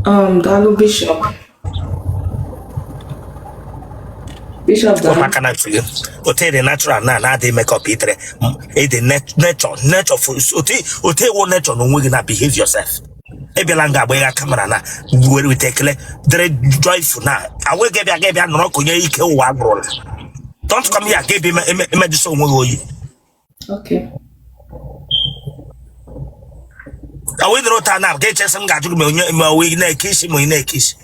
Um, daalụ bishọp bishọp daalụ maka na otele dị natural na na-adịghị makeup itere ịdị nature nature otu ewu nature na onwe gị na behave yourself abịala nga agba ya kamera na were weta ekele dere joyful na awe gị bịa gị bịa nọrọ ka onye ike ụwa agwụrụla don't come here gị bịa emejụsa onwe gị oyi ka wee dịrị ụta na ga-echesị m ga-ajụ gị ma onye ma onye na-eke isi ma onye na-eke isi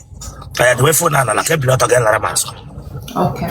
ka ya dowe fon ala ka i bili ọtọ gị lara m azụ Okay.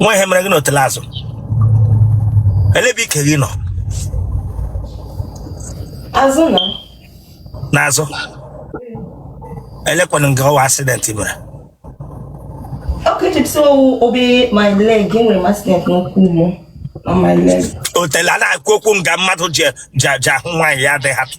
nwa ihe mere gị na otele azụ ele ebe ike gị nọ azụ na n'azụ elekwana nke ọ wụ accident mere otele a na-ekwu okwu nga mmadụ ji ahụ nwaanyị ya adịghị atụ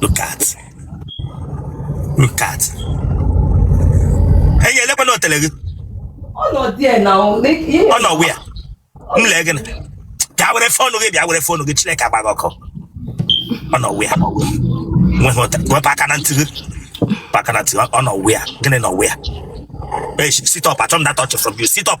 Look at. Look at. Enyi elekwana otele gị. Ọ nọ there na ọ nọ where. M lee gị na. Bịa were fonu gị bịa were fonu gị Chineke agba gị ọkụ. Ọ nọ where. Nweghị otele. Wepụ aka na ntị gị. Wepụ aka na ntị gị. Ọ nọ where. Gịnị nọ where? Hey, sit up. I turn that touch from you. Sit up.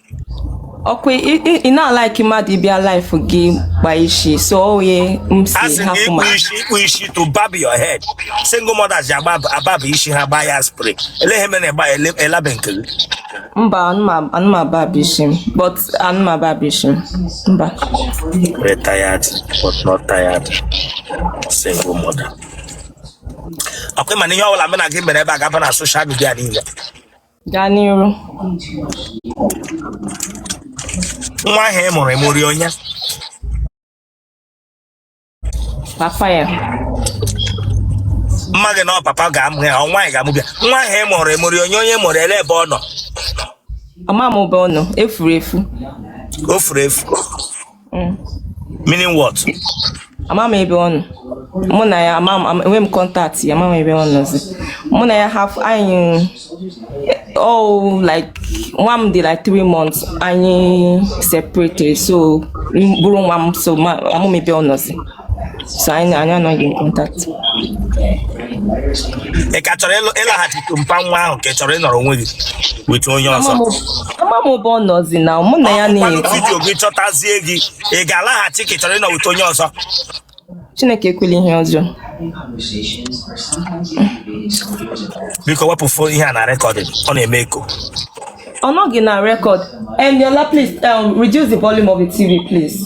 ọkwa ị- ị- ị na-alaiki mmadụ ịbịa live gị gba isi so oye m si asị gị hapụ ịkpụ ma isi ịkpụ isi to barb your head single mothers ji agba ababụ isi ha gbaa ya spray ele ihe mere na ịgba ya ele- ele ebe nke gị mba ana m a- ana m abab isi m but ana m abab isi m mba Very tired, but not tired. Single mother. Ọkwa ị ma na ihe ọbụla mụ na gị mere ebe a ga-aba na social media niile gaa n'iru nwa ahụ ị mụrụ ị mụrụ ya onye papa ya m maghị na ọ papa ga-amụ ya ọ nwaanyị ga-amụ bịa nwa ahụ ị mụrụ ị mụrụ ya onye onye mụrụ ya ele ebe ọ nọ ama m ebe ọ nọ efuru efu o furu efu Mm. meaning what ama m ebe ọ nọ mụ na ya ama m ama- enwe m contact ya ama m ebe ọ nọzi mụ na ya haf anyị oh like nwa m dị like three months anyị separated so m buru nwa m so ama m ebe ọ nọzi So anyị anyị anọghị in contact. ị ka chọrọ ịlụ- ịlaghachite mpa nwa ahụ ka ị chọrọ ịnọrọ onwe gị with onye ọzọ Ama m ebe ọ nọzi na mụ na ya Kwanụ na-ekwu. video gị chọtazie gị ị ga-alaghachi ka ị chọrọ ịnọ with onye ọzọ Chineke ekwela ihe ọjọọ. biko wepụ phone ihe a na recording ọ na-eme eko Ọ nọghị na record. Eniola please um, reduce the volume of the TV please.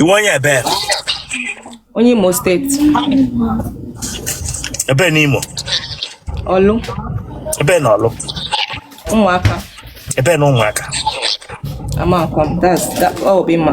Ị wụ onye ebe? Onye Imo State. Ebe n'Imo? Ọlụ. Ebe na Ọlụ? Ụmụaka. Ebe na Ụmụaka? Amakwa m, that's that, ọ bụ ịma.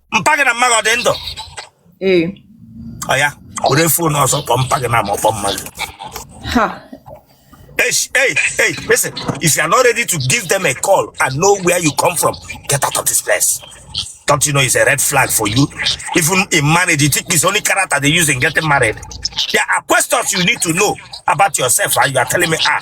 mpa gị na mma gị ọ dị ndụ ee oya were phone ọzọ kpọọ mpa gị na ma ọ kpọọ mma gị ha Hey, sh- hey, hey, listen. If you are not ready to give them a call and know where you come from, get out of this place. Don't you know it's a red flag for you? Even in marriage, you think it's only character they use in getting married. There are questions you need to know about yourself, and you are telling me, ah,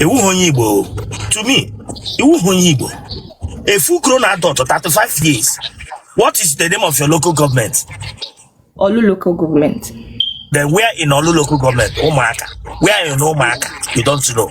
ị wụghị onye Igbo to me ị wụghị onye Igbo a full grown adult 35 years what is the name of your local government Ọlụ local government. then where in Ọlụ local government Ụmụaka where in Ụmụaka you don't know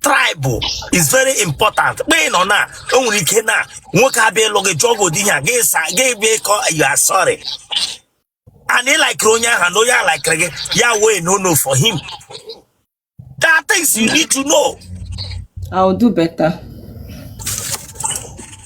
tribe is very important mgbe ị nọ na o nwere ike na nwoke abịa ịlụ gị jụọ gị ụdị ihe a gị sa gị bịa ịkọ you are sorry and ị likere onye ahụ na onye a likere gị ya wee no no for him there are things you need to know I'll do better.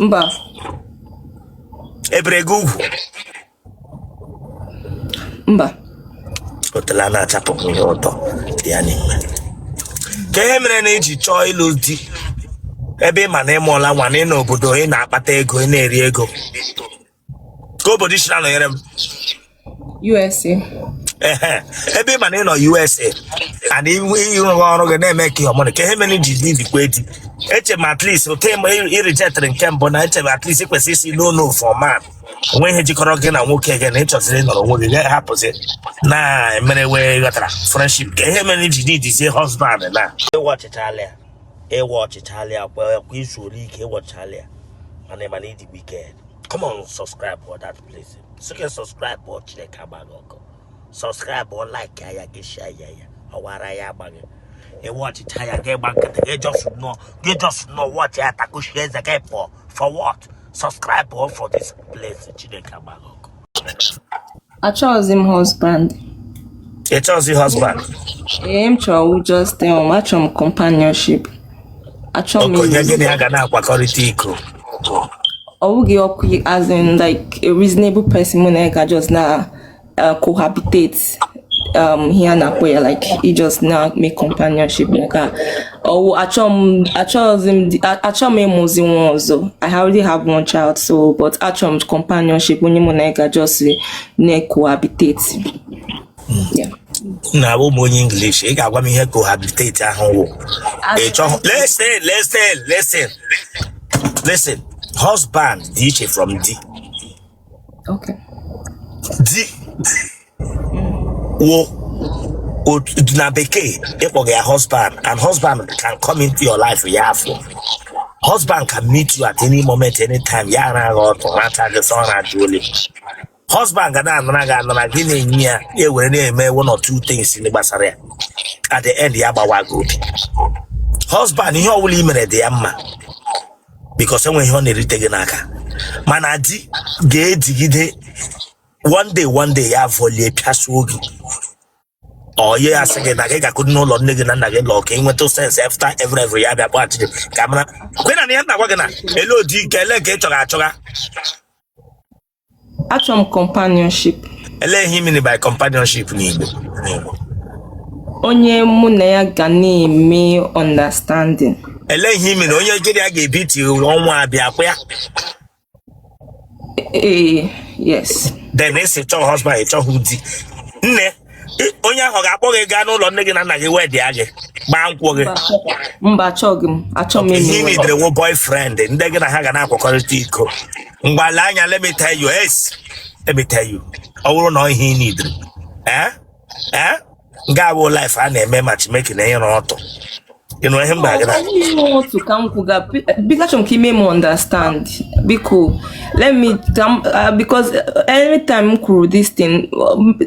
mba ebere gị ugwu mba o teela na-achapụ m ihe ụtọ dị ya n'ime kee ihe mere na i ji chọọ ịlụ di ebe ị ma na ị mụọla nwa na ị nọ obodo ị na-akpata ego ị na-eri ego kee obodo ị sị na-anọnyere m USA. ehe ebe ị ma na ị nọ USA and ị rụgha ọrụ gị na-eme ka ihe ọmụrụ kee ihe mere ji needikwa di eche m at least okay mgbe ị rejectịrị nke mbụ na eche m at least ị kwesịrị ịsị no no for man o nwe ihe jikọrọ gị na nwoke gị na ị chọziri ịnọrọ onwe gị gaghị hapụzi na mere wee ghọtara friendship kee ihe mere ji needizie husband na ị watchịchala ya ị watchịchala ya kwa kwa ị zuola ike ị watchịchala ya mana ị ma na ị dị wicked come on subscribe for that place sị gị subscribe o Chineke agba gị ọkụ subscribe o like ya ya gị share ya ya ọ wụ ara ya agba gị ị watchịchaa ya gị gba nkịtị gị just nọ gị just nọ watch ya takushi eze gị for for what subscribe o for this place Chineke agba gị ọkụ Achọghịzi m husband. Ị chọghịzi husband? Ihe m chọrọ wụ just em. um, Achọrọ m companionship. Achọrọ m Okay, onye gị na ya ga na-akwakọrịta iko. ọ wụghị ọkụ as in like a reasonable person mụ na ya ga just na uh, cohabitate um, ihe a na-akpọ ya like i just na make companionship nke a ọ wụ achọ m achọghịzi m di- a- achọ m ịmụzi nwa ọzọ i already have one child so but achọ m companionship onye mụ na ya ga just na-cohabitate Yeah. na abụghị m onye English ị ga-agwa m ihe cohabitate ahụ wụ ị chọghị listen listen listen listen husband dị iche from di okay di wụ otu na bekee ị kpọga ya husband and husband can come into your life ya apụọ husband can meet you at any moment anytime ya araa gị ọtụ rata gị sọ ọnwa dị ole husband ga na-anara gị anara gị na-enye ya ya ewere na-eme one or two things ndị gbasara ya at the end ya gbawa gị obi husband ihe ọbụla i mere dị ya mma because enweghị ihe ọ na-erite gị n'aka mana di ga-edigide one day one day ya volie pịasuo gị ihe ya sị gị na gị gakwuru n'ụlọ nne gị na nna gị lọọ ka ị nweta sense after every every ya bịa kpọghachi gị ka ị marakwa na ihe m na-agwa gị na ele odi nke ele nke ị chọga Achọrọ m companionship. ele ihe ị mean by companionship n'Igbo Onye mụ na ya ga na-eme understanding. ele ihe ị mean onye gị na ya ga-ebi ti ọnwa abịa kwa ya Ee, yes. then esi chọọ husband ị chọghị di nne ị- onye ahụ ga-akpọ gị gaa n'ụlọ nne gị na nna gị wedịa gị gbaa nkwụ gị Mba, achọ- Mba, achọghị m. Achọ m ihe ị nidere wụ boyfriend ndị gị na ha ga na-akwakọrịta iko mgbale anya let me tell you yes let me tell you ọ bụrụ na ọ ihe ị nidere eh ee ngaa wụ live a na-eme matchmaking na ịra ọtụ ị nụ ihe m gwa gị na Ọkaiwu otu ka m kwuga biko achọrọ m ka i mee m understand biko let me ka m ah, because eh, every time m kwuru this thing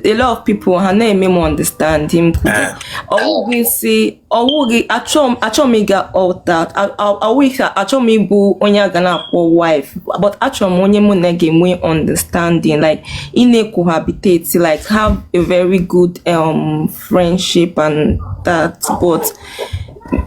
a lot of people ha na-eme m understand m kwuru Eh. ọ wụghị sị ọ wụghị achọ m achọ m ịga altar ọ wụghị ka achọ m ịbụ onye a ga na-akpọ wife but achọ m onye mụ na ya ga-enwe understanding like ị na-cohabitate like have a very good um, friendship and that but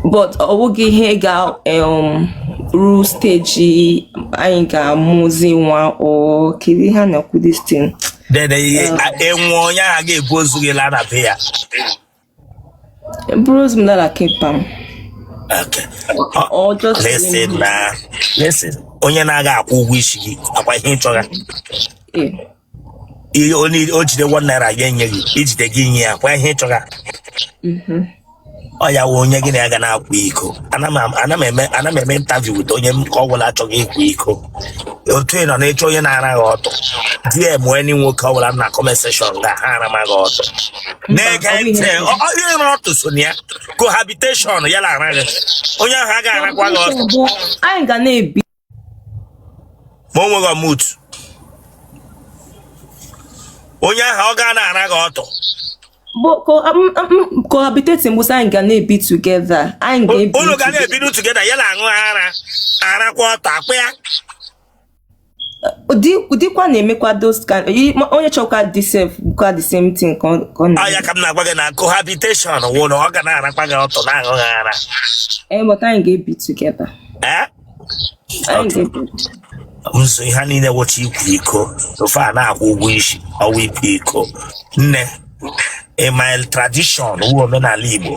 but ọ wụghị ihe ga um, ruo stage anyị ga-amụzi nwa or kedị ihe a na-akpọ this thing. Then, e nwe onye a ga-ebu ozu gị laa na be ya. Bụrụ ozi m dara kịta m. Okay. Ọ- Ọ just Listen leave me. na listen onye na-aga akwụ ụgwọ isi gị akwa ihe ị chọga Eh, ihe onye o jide one naira ya enye gị i jide gị nye ya akwa ihe ị chọga mhm. ọ ya wụ onye gị na ya ga na-akwa iko ana m ana m eme ana m eme interview with onye m ka ọ gwụla achọghị ịkwa iko otu ị nọ na-achọ onye na-ara gị ọtụ DM any nwoke ọ bụla na comment section ga ha arama gị ọtụ na-ege ntị onye ịra ọtụ so na ya cohabitation ya na-ara gị onye ahụ agaghị arakwa gị ọtụ anyị ga na-ebi ma o nweghị ọmụtu onye ahụ ọ ga na-ara gị ọtụ But co- um, um, um, cohabitating bụ sị anyị ga na-ebi together anyị ga-ebi unu ga together. na-ebiru together ya na-aṅụ ara arakwa ọtụ akpa ya ụdị ụdịkwa na-emekwa those kind i- ma- onye chọkwa dị sef bụkwa the same thing ka ọ ka ọ na ọ ya ka m na-agwa gị na cohabitation wụ na ọ ga na-arakwa gị ọtụ na-aṅụ gị ara ee but anyị ga-ebi together Eh? Anyị Otu. ga-ebi. so ihe niile wụcha ịkwa iko ofe a na-akwụ ụgwọ isi ọ wụ ịkwa iko nne in my tradition wụ omenala Igbo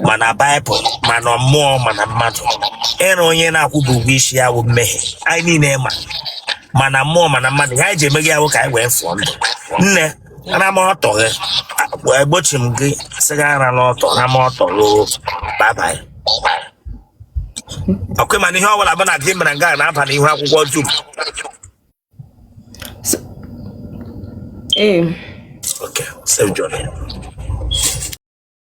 ma na Bible ma na mmụọ ma na mmadụ ịra onye na-akwụba ụgwọ isi ya wụ mmehie anyị niile ma ma na mmụọ ma na mmadụ ihe anyị ji emeghe ya wụ ka anyị wee fụọ ndụ nne ana m ọtụ gị egbochi m gị sị gị arana ọtụ na m ọtụ gị bye-bye okay mana ihe ọbụla bụ na gị mere nga na-aba n'ihu akwụkwọ dum Ee. okay safe journey